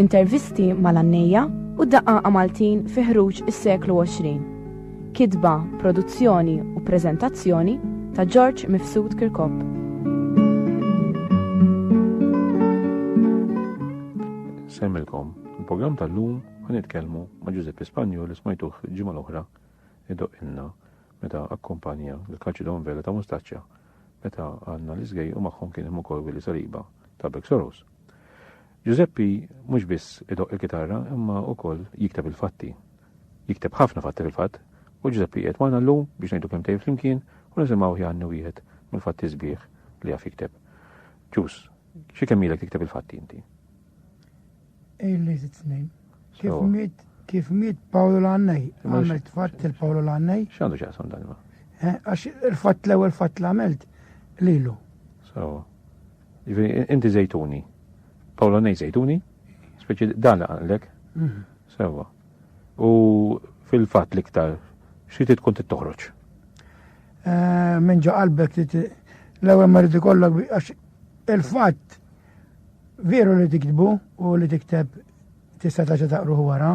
Intervisti mal-għannejja u d-daqqaqa Maltin fi ħruġ is-seklu 20. Kitba, produzzjoni u preżentazzjoni ta' George Mifsud Kirkop. Semmilkom, il-programm tal-lum ħan nitkellmu ma' Giuseppe Spanju li smajtuh ġimgħa l-oħra idoq inna meta akkumpanja l-Kaċidon Vela ta' Mustaċċa meta għandna l-iżgej u magħhom kien hemm ukoll Willi Saliba ta' Bek Soros. Ġużeppi mhux biss idoqq il-kitarra imma ukoll jikteb il-fatti. Jikteb ħafna fatti fil-fatt u Ġużeppi qiegħed magħna llum biex ngħidu kelmtejn flimkien u nisimgħuh jgħanni wieħed mill-fatti sbieħ li jaf jikteb. Ġus, xi kemm ilek tikteb il-fatti inti? Illi sitt snin. Kif miet kif miet Pawlu Lannej, għamilt fatt il-Pawlu Lannej. X'għandu x'jaqsam dan ma? Eh, għax il-fatt l-ewwel fatt l-għamilt lilu. Sawa. Jiġifieri, inti żejtuni. Pawla ngħid żejtuni, speċi dan li għandek. Mhm. Sewa. U fil-fatt l-iktar xi tkun tittoħroġ? Eh, minn ġo qalbek li l-ewwel ma rrid ikollok għax il-fatt veru li tiktbu u li tikteb tista' taġa taqruħu wara,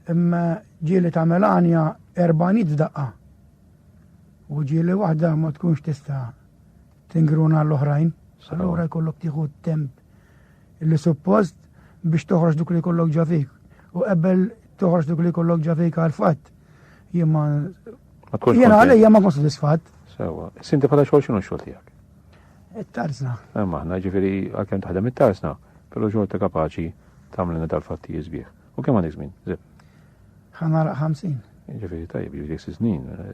imma ġieli ta' Melania erbanit daqqa. U ġieli waħda ma tkunx tista' tingruna l-oħrajn, allura jkollok tieħu temp li suppost biex toħroġ duk li jkollok ġafik. U qabel toħroġ duk li jkollok ġafik għal fatt. Jimma. Jena għalija ma kon sodisfat. Sewa, sinti bħala xogħol xinu xogħol tiegħek? It-tarzna. Eh, maħna ġifieri għalkemm taħdem it-tarzna, però xogħol ta' kapaċi tagħmlina tal-fatti jiżbieħ. U kemm għandek żmien? Ħanara 50. Ġifieri tajjeb, ġifieri snin. Eh,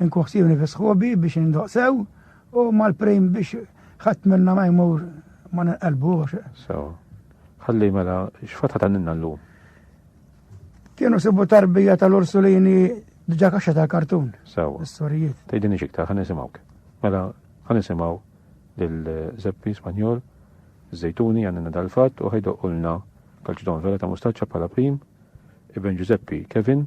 Inkuħsibni fi sħubi biex indoq sew u mal-prim biex ħadd minna ma jmur ma ninqalbux. Sew. Ħalli mela x'fatħa tanninna llum. Kienu sibu tarbija tal-Ursulini diġa kaxxa tal-kartun. Sewa. Is-sorijiet. Tgħidini xiktar, ħan nisimgħuk. Mela, ħan nisimgħu lil Zeppi Spanjol, Zejtuni għandna dal-fatt u ħajdoq ulna kalċidon vera ta' mustaċċa bħala prim, Ibn Giuseppe Kevin,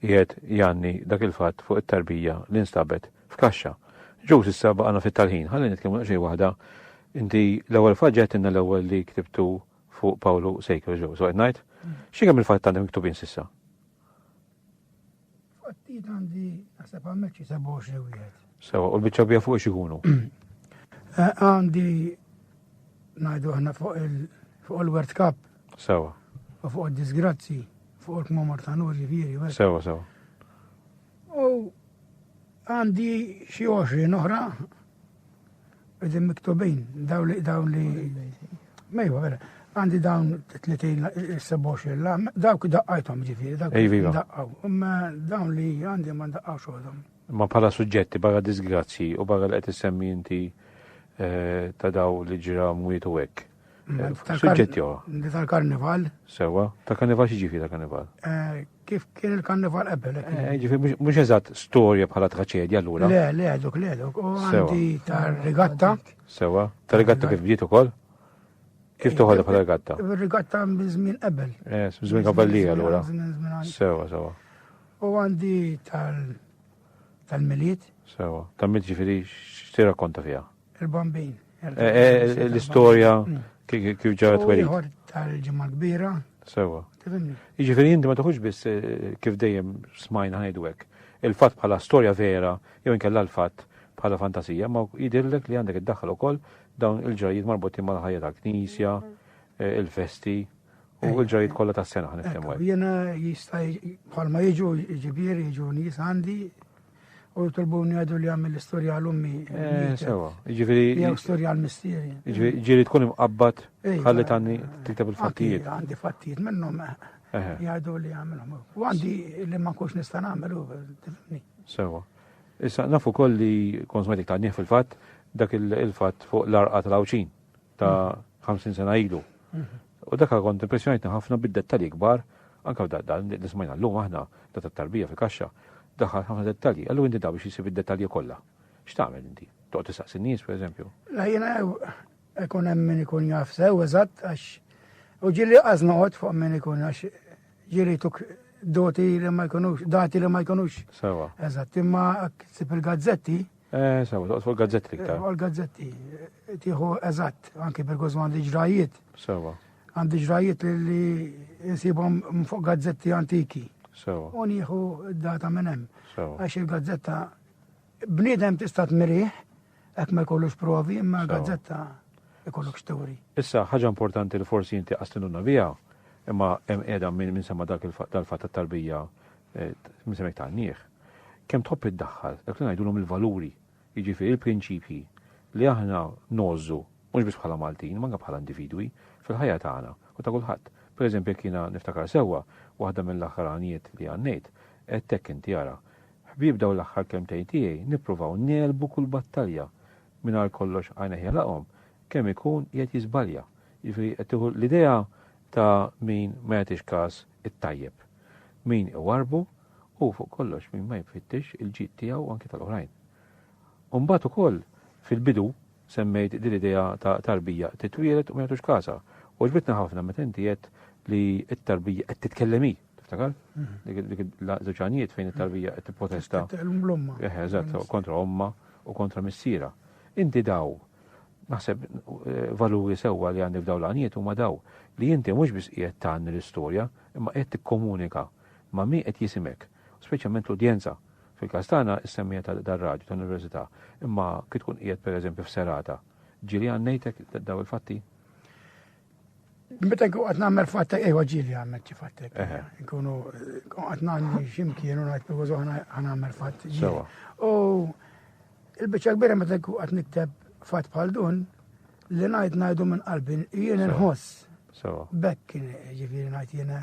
qiegħed jgħanni dak il-fatt fuq it-tarbija li nstabet f'kaxxa. Ġuż issa baqgħna fit-talħin. Ħalli nitkellmu daqsxejn waħda. Inti l-ewwel fatt ġegħtilna l-ewwel li ktibtu fuq Pawlu Sejker ġew. So qed ngħid, xi kemm il-fatt għandek miktubin s'issa? Fattijiet għandi naħseb għammek xi 27 wieħed. Sewa, u l-biċċa bija fuq x'ikunu? Eh, għandi ngħidu aħna fuq il-World Cup Sewa. U fuq id-disgrazzi, fuq il-kmamar ta' nur ġifieri. Sewa, sewa. U għandi xi 20 oħra Għedin miktubin, daw li, daw li, mejwa, vera, għandi dawn 30-27 la, dawk daqqajtom ġifiri, dawk daqqaw, imma dawn li għandi ma daqqaw xoħdom. Ma pala suġġetti, barra disgrazzi u barra li għet semmi inti eh, ta' daw li ġira mwiet u għek. Suġġetti huwa. Li tal-karnival. Sewa, tal-karnival xi ġifi tal-karnival? Eh, kif kien il-karnival qabel? Eh, eh, ġifi, mhux eżatt storja bħala traċedja allura. Le, le, dok le, dok. U għandi tar-rigatta. Sewa, tar-rigatta kif bdiet ukoll? Kif toħodha bħala rigatta? Rigatta minn żmien qabel. Eh, żmien kavallier allura. Sewa, sewa. U għandi tal-miliet. Sewa, tal-miliet ġifieri x'tirrakkonta fiha? Il-bambin. L-istorja kif ġaret weri. Ieħor tal-ġimgħa kbira. Sewa. Jiġifieri inti ma taħux biss eh, kif dejjem smajna ngħidu hekk. Il-fatt bħala storja vera jew inkella l-fatt bħala fantasija, ma jidillek li għandek id-daħħal ukoll dawn il-ġrajiet marbutin mal-ħajja tal-knisja, eh, il-festi u l-ġrajiet kollha tas-sena ħan niftehmu. Jiena jista' bħalma jiġu ġibier jiġu nies għandi u jitolbuni għadu li għamil l-istorja għal-ummi. Eh, sewa, ġifiri. Jew storja għal-mistieri. Ġifiri tkun imqabbat eh, ħalli tanni eh, tiktab il-fattijiet. Għandi fattijiet minnhom jgħadu li għamilhom. U għandi li ma kux nista' nagħmel tifni. Sewa. Issa nafu koll li konsmetik ta' fil-fatt dak il-fatt fuq l-arqa tal-awċin ta' 50 mm. sena ilu. U dak kont impressjonajtni ħafna bid-dettalji kbar, anke dan li smajna llum aħna, ta' tat-tarbija fil-kaxxa, daħħal ħafna dettalji. Allura inti daw biex isib id-dettalji kollha. X'tagħmel inti? Toqgħod tistaqsi n-nies, pereżempju? La jiena ikun hemm min ikun jaf sew eżatt għax u ġieli qas noqgħod fuq min ikun għax ġieli tuk doti li ma jkunux, dati li ma jkunux. Sewa. Eżatt, imma sib il-gazzetti Eh, sawa, toqgħod fuq gazzetti iktar. Fuq gazzetti tieħu eżatt, anki per kważi għandi ġrajiet. Sawa. Għandi ġrajiet li nsibhom fuq gazzetti antiki. Sawa. U nieħu data minn hemm. Sawa. Għax il-gazzetta bniedem tista' tmirih, hekk ma jkollux provi, imma gazzetta ikollok xtewri. Issa ħaġa importanti li forsi inti qastinuna biha, imma hemm qiegħda minn semma dak il-fatt tal-tarbija eh, minn semmek ta' nieħ. Kemm tħobb iddaħħal dak li ngħidulhom il-valuri, jiġifieri l-prinċipji li aħna ngħożżu mhux biss bħala Maltin, imma anke bħala individwi, fil-ħajja tagħna u ta' kulħadd. Pereżempju jekk jiena niftakar sewwa, waħda mill-aħħar għanijiet li għannejt, għedtek inti ara, Ħbieb dawn l-aħħar kelmtejn tiegħi nippruvaw negħlbu kull battalja, mingħajr kollox għajnejh jagħlaqhom, kemm ikun qiegħed jiżbalja. Jiġifieri qed tieħu l-idea ta' min ma jagħtix każ it-tajjeb. Min iwarrbu u fuq kollox min ma jfittix il-ġid tiegħu u anki tal-oħrajn. U mbagħad ukoll fil-bidu semmejt din l-idea ta' tarbija titwieled u ma jagħtux każha. U ġbitna ħafna meta inti qed li t-tarbija qed titkellem hi, tiftakar? Mhm. Dik l-żewġanijiet fejn it-tarbija qed tipprotesta. Eh, eżatt, kontra omma u kontra missiera. Inti daw naħseb eh, valuri sewwa li għandi f'daw l-għaniet huma daw li inti mhux biss qiegħed tagħni l-istorja, imma qiegħed tikkomunika ma' min qed jisimek, u speċjalment l-udjenza. Fil-każ tagħna, is-semmiegħa ta' dar-radju tal-Università, imma kif tkun qiegħed pereżempju f'serata, ġieli għan ngħidlek dawn il-fatti? Meta nkun qed nagħmel fatta, ejwa ġieli għan ngħid xi fattek. Nkunu qed nagħmel x'imkien u ngħid pereżu għan nagħmel fatt ġieli. U il-biċċa kbira meta nkun qed nikteb fatt bħal dun, li ngħid ngħidu minn qalbi, jien inħoss. Bekk kien ġifieri ngħid jiena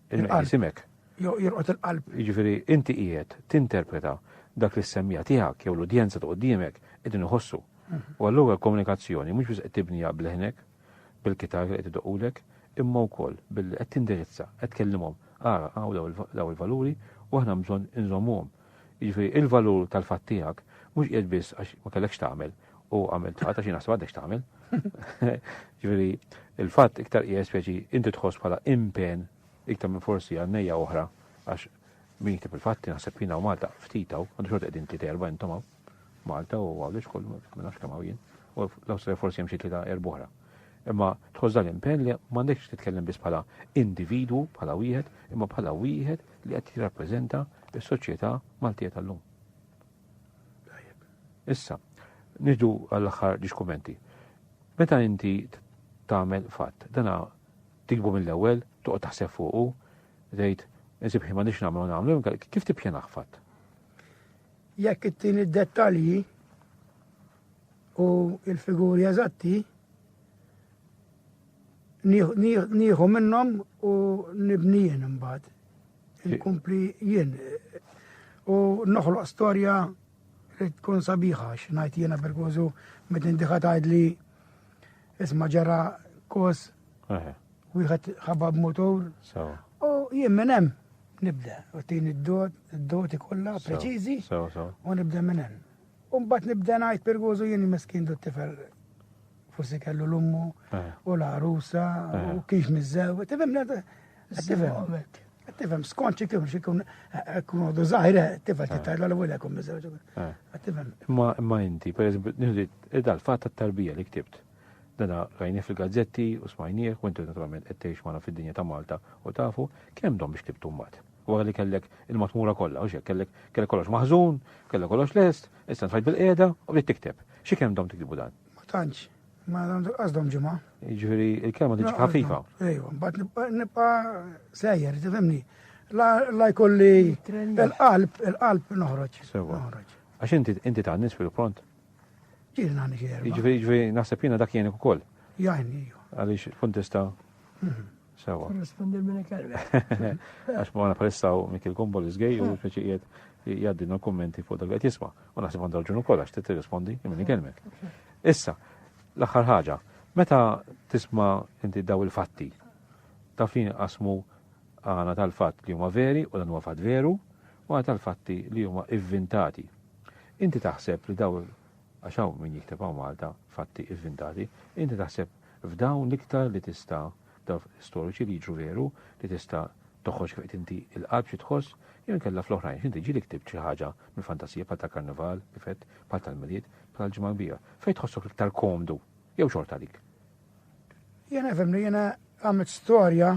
Il-qisimek. Jo jirqot il-qalb. Jiġifieri inti qiegħed tinterpreta dak li s-semmija tiegħek jew l-udjenza ta' quddiemek qegħdin iħossu. U allura l-komunikazzjoni mhux biss qed tibniha b'leħnek, bil-kitarra li qed idoqqulek, imma wkoll billi qed tindirizza, qed tkellimhom, ara hawn dawn il-valuri u aħna hemm bżonn inżommuhom. Jiġifieri l-valur tal-fatt tiegħek mhux qiegħed biss għax ma kellekx tagħmel, u għamilt ħata xi naħseb għandek x'tagħmel. Ġifieri il-fatt iktar qiegħed speċi inti tħoss bħala impen iktar minn forsi għannejja oħra għax min jiktib il-fatti naħseb jiena u Malta ftitaw, għandu xorta qegħdin tliet erba' intom Malta u għawdex kollu ma nafx kemm hawn jien. U l-Awstrija forsi hemm xi tlieta erba' oħra. Imma tħoss dan l-impenn li m'għandekx titkellem biss bħala individwu, bħala wieħed, imma bħala wieħed li qed jirrappreżenta s-soċjetà Maltija tal-lum. Issa, nidu għall-aħħar ġiex kummenti. Meta inti tagħmel fatt, dana tikbu mill-ewwel, toqgħod taħseb fuqu, tgħid, insib ħin m'għandix nagħmlu nagħmlu, kif tippjanaħ fatt? Jekk it-tieni dettalji u il-figuri eżatti, nieħu minnhom u nibnijin imbagħad. Inkompli jien u noħloq storja li tkun sabiħa x'ngħid jiena perkużu meta indiħa tgħidli isma' ġara kos wieħed ħabab motor. U jien minn hemm nibda u tini d-dot, d-doti kollha preċiżi u nibda minn hemm. U mbagħad nibda ngħid perkużu jien meskin dot tifel forsi kellu l-ummu eh. u l-arusa u eh. kif mizzew, tifhem Tifem, skont xi kif xi kun kun għodu zaħira, tifem ti tajla l għolja kun miżewġ. Tifem. Ma ma inti, per eżempju, nħidu id-dal-fat tat-tarbija li ktibt. Dana rajni fil-gazzetti u smajnieh, u intu naturalment qed tgħix magħna fid-dinja ta' Malta u tafu kemm dom biex ktibt mbagħad. Wara li kellek il-matmura kollha, u xek kellek kellek kollox maħżun, kellek kollox lest, issa nfajt bil-qiegħda u bdiet tikteb. Xi kemm dom tiktibu dan? Ma tantx. Ma għandu qasdom ġimgħa. Jiġifieri il-kelma tiġi ħafifa. Ejwa, mbagħad nibqa' sejjer, tifhimni. La jkolli il-qalb, il-qalb noħroġ. Sewa. Għax inti inti ta' nis fil-pront. Ġieli nagħni xi Jiġifieri naħseb jiena dak jgħinek ukoll. Jgħinni. Għaliex kuntesta. Mhm. Sewa. Korrespondi minn kelma. Għax ma napressaw Mikil Kumbol iżgej u speċi qiegħed jgħaddina l-kummenti fuq dak li qed jisma'. U naħseb għandha raġun ukoll għax tirrispondi minn kelmek. Issa, l-aħħar ħaġa, meta tisma' inti daw il-fatti, ta' fin qasmu għana tal-fatt li huma veri u dan huwa fatt veru u għana tal-fatti li huma ivvintati. Inti taħseb li daw Għax hawn min jikteb hawn Malta fatti ivvintati. Inti taħseb f'dawn l-iktar li tista' dawn fatti storiċi li jiġru veru li tista' toħroġ kif qed inti il-qalb xi tħoss jew inkella fl-oħrajn għax inti ġieli ktibt xi ħaġa mill-fantasija bħal tal-Karnival kif għedt, bħal tal-Milied, bħal tal-Ġimgħa l-Kbira. Fejn tħossok l-iktar komdu jew xorta dik? Jiena nifhem li jiena għamilt storja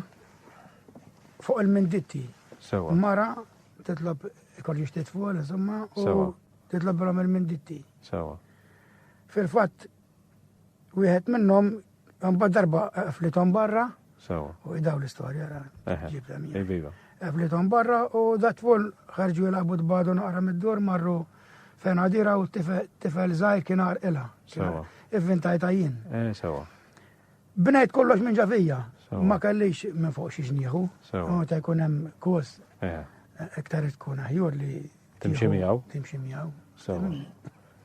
fuq il-minditti. Sewa. Mara titlob ikolli xtejt fuq, insomma, u Titlobhilhom il-minditti. Sewa. Fil-fatt, wieħed minnhom mbagħad darba qflithom barra. Sewa. U idaw l-istorja ra. Iviva. Qflithom barra u datful ħarġu jilagħbu tbadu naqra mid-dur marru fejn għadira u tifel żgħir kien arqilha. Sewa. Ivvintajta jien. Eh, sewa. Bnejt kollox minn ġavija. Ma kellix minn fuq xi ġnieħu. Sewa. Ta' jkun hemm kos. Eh. Iktar tkun aħjur li Timxi miegħu. Timxi miegħu. Sewa.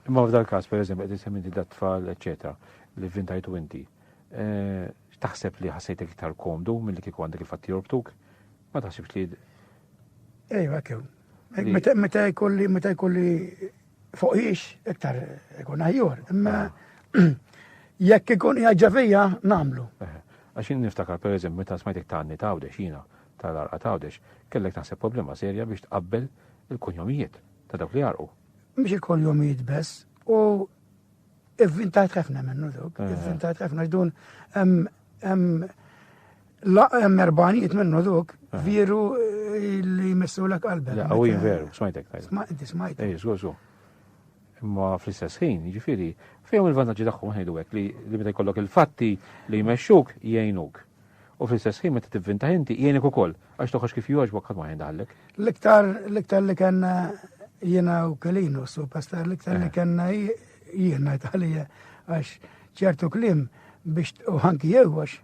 Imma f'dal każ pereżempju qed isem inti dat-tfal, eċetera, li vintajtu inti. Eh, taħseb li ħassejtek iktar komdu milli kieku għandek il-fatt jorbtuk? Ma taħsibx li. Ejwa kemm. Meta jkolli meta jkolli fuqix iktar ikun aħjor. Imma ah. jekk ikun jaġġa fija nagħmlu. Eh, għax niftakar pereżempju meta smajtek tanni tawdex jiena tal-għarqa ta' Għawdex, kellek naħseb problema serja biex tqabbel il-kunjomijiet ta' dawk li għarqu. Mhux il-kunjomijiet bess, u ivvintajt ħafna minnu dawk, eh. ivvintajt ħafna x'dun hemm erbanijiet minnu dawk eh. vieru eh, li jmissu l qalbek. La, u veru, smajtek tajt. Smajtek, smajtek. Ej, żgur, żgur. Imma fl-istess ħin, jiġifieri, fejn il-vantaġġi tagħhom ħejdu hekk li meta jkollok il-fatti li jmexxuk jgħinuk. U fl-istess ħin meta tivvintaħ inti jgħinek ukoll għax toħroġ kif jogħġbok ħadd ma jindaħallek. L-iktar l-iktar li kellna jiena u kelinu superstar l-iktar li eh. kellna jiena jtaħlija għax ċertu klim biex u ħanki jewwax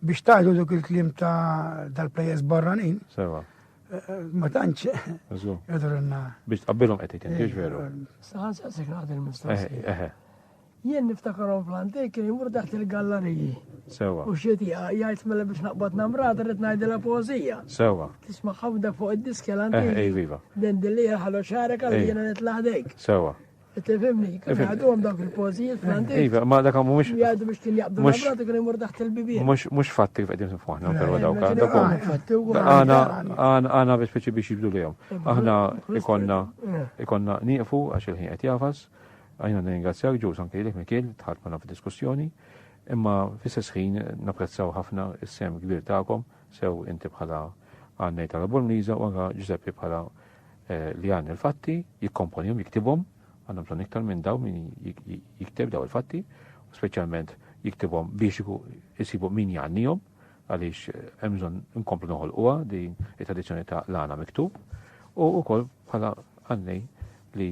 biex tajdu duk il-klim ta' dal-plejers barranin. Sewa. Eh, ma tantx. Biex tqabbilhom qed ikun, kiex veru. Saħan saqsek għad il-mistoqsija. Eh, Jien niftakarhom fl-antik kien jmur taħt il-gallariji. Sewa. U xieti jgħid mela biex naqbad namrata rrid ngħidilha poeżija. Sewa. Tisma' ħafna fuq id-diski l-antik. Eh, viva. Den dilli ħallu xarek għal jiena nitla' ħdejk. Sewa. Tifimni, kif għadhom dawk il-pożijiet fl-antik. Iva, ma dak għamu mux. Jgħadu biex kien jaqbdu l-abrat kien imur taħt il-bibien. Mux mux fatti kif għedin fuħna, pero dawk għadhom. Għana, għana biex biex biex jibdu li jom. Aħna ikonna, ikonna niqfu għax il-ħin għet jafas. Aħna nirringrazzjawk ġus anke lilek Mikiel dħalt magħna fid-diskussjoni, imma fl-istess ħin napprezzaw ħafna s-sehem kbir tagħkom, sew inti bħala għannej tal-Bormliża u anke Ġużeppi bħala eh, li għan il-fatti, jikkomponihom, jiktibhom, għandhom bżonn iktar minn daw min jikteb daw il-fatti, u speċjalment jiktibhom biex jisibu min jgħannihom għaliex eh, hemm bżonn inkomplu noħolquha din it-tradizzjoni ta' lana miktub u wkoll bħala għannej li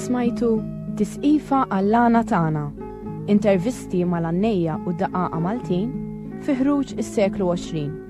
Smajtu Tisqifa għall-għana tagħna. Intervisti mal-għannejja u daqaqa Maltin fi ħruġ is-seklu 20.